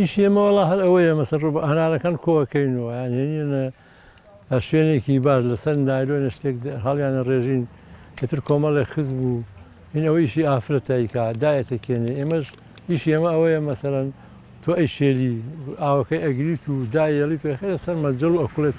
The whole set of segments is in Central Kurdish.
ئیشی ئێمە وەڵا هەر ئەوەیە مەسەر ڕوو هەنارەکان کۆکەین و یانێنە شوێنێکی باش لەسەر نایلۆنە شتێک هەڵیانە ڕێژین ئیتر کۆمەڵێک خز بوو این ئەوە ئیشی ئافرەتایکا دایەتە کێنێ ئێمەش ئیشی ئێمە ئەوەیە مەسەرەن تۆ ئەی شێلی ئاوەکەی ئەگریت و دایەڵی پێ خێرە سەر مەجل و ئەکڵێت.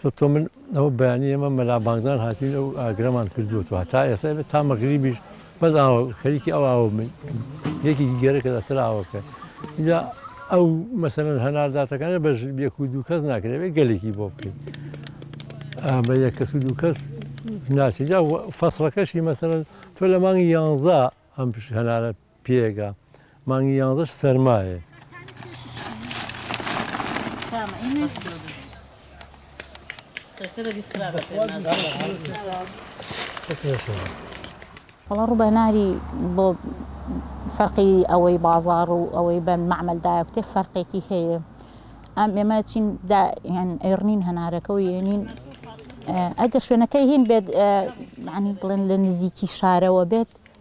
سە تۆ من ئەوە بەیانی ئێمە مەلا بانگدان هاتوین ئەو ئاگرەمان کردووە تۆ هەتا ئێستا بێت تا مەغریبیش بەس ئاوە خەریکی ئەو ئاوە من یەکێکی گەرەکە لەسەر ئاوەکە اینجا ئەو مەسەرەن هەنارداتەکانە بەش یەک و دوو کەس ناکرێت گەلێکی بۆ بکەین بە یەک کەس و دوو کەس ناچێت جا فەسڵەکەشی مەسەرەن تۆ لە مانگی یانزە ئەم هەنارە پێگە مانگی یانزەش سەرمایە. وەڵا ڕوبەناری بۆ فەرقی ئەوەی بازار و ئەوەی بەن معمل دایکتێ فەرقێکی هەیە ئەم ئێمە چین ئەڕنین هەنارەکە و یێنین ئەگە شوێنەکەی هین بێت عنی بڵێن لە نزیکی شارەوە بێت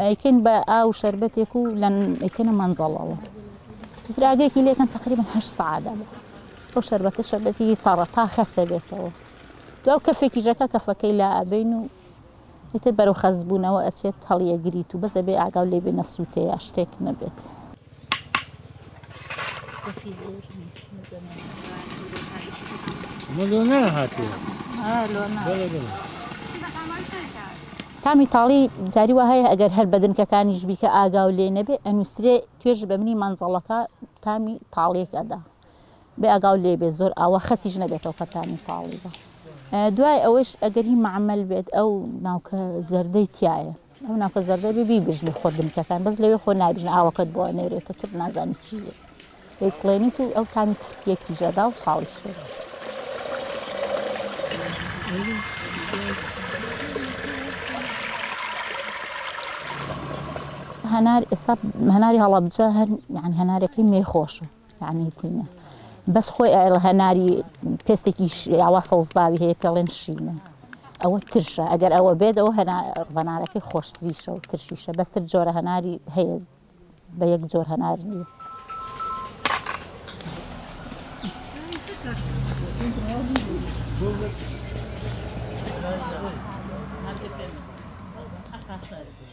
ئەیکەن بە ئاو و شەربەتێک و لە ئەیکەنە مەنجەڵەوە تر ئاگرێکی لێکەن تقریبا هەشت سعادە ئەو شەربەتە شەربەتی تەڕە تا خەسە بێتەوە دو کەفێکی ژەکە کەفەکەی لا ئەبین و ئیتر بەرەو خەزبوونەوە ئەچێت هەڵیەگریت و بەسە بێ ئاگاو لێ بێ نەسووتەیە شتێک نەبێت. ملونا هاتو اه لونا بلا بلا تامی تاڵی جاری وە هەیە ئەگەر هەر بەدنکەکانیش بیکە ئاگا و لێ نەبێ ئەنووسرێ توێژ بە منی مەنزەڵەکە تامی تاڵێک ئەدا بێ ئاگا و لێ بێ زۆر ئاوا خەسیش نەبێتەوە کە تامی تاڵی بە دوای ئەوەش ئەگەری معمل بێت ئەو ناوکە زەردەی تایە ئەو ناوکە زەردە بێ بیبژنی خۆت بنکەکان بەس لەوێ خۆ نابژن ئاوەکەت بۆ نێرێتە تر نازانی چی بێت دەیکڵێنیت و ئەو تامی تفتیەکی ژەدا و خاڵی شێ هەنار ئێستا هەناری هەڵەبجە هەر یان هەنارەکەی مێ خۆشە تانەی تینە بەس خۆی ئەڵ هەناری پێستێکی یاوا سەوزباوی هەیە پێڵێن شینە ئەوە ترشە ئەگەر ئەوە بێت ئەو هەنارەکەی خۆشتریشە و ترشیشە بەستر جۆرە هەناری هەیە بە یەک جۆر هەنار نیە Thank you.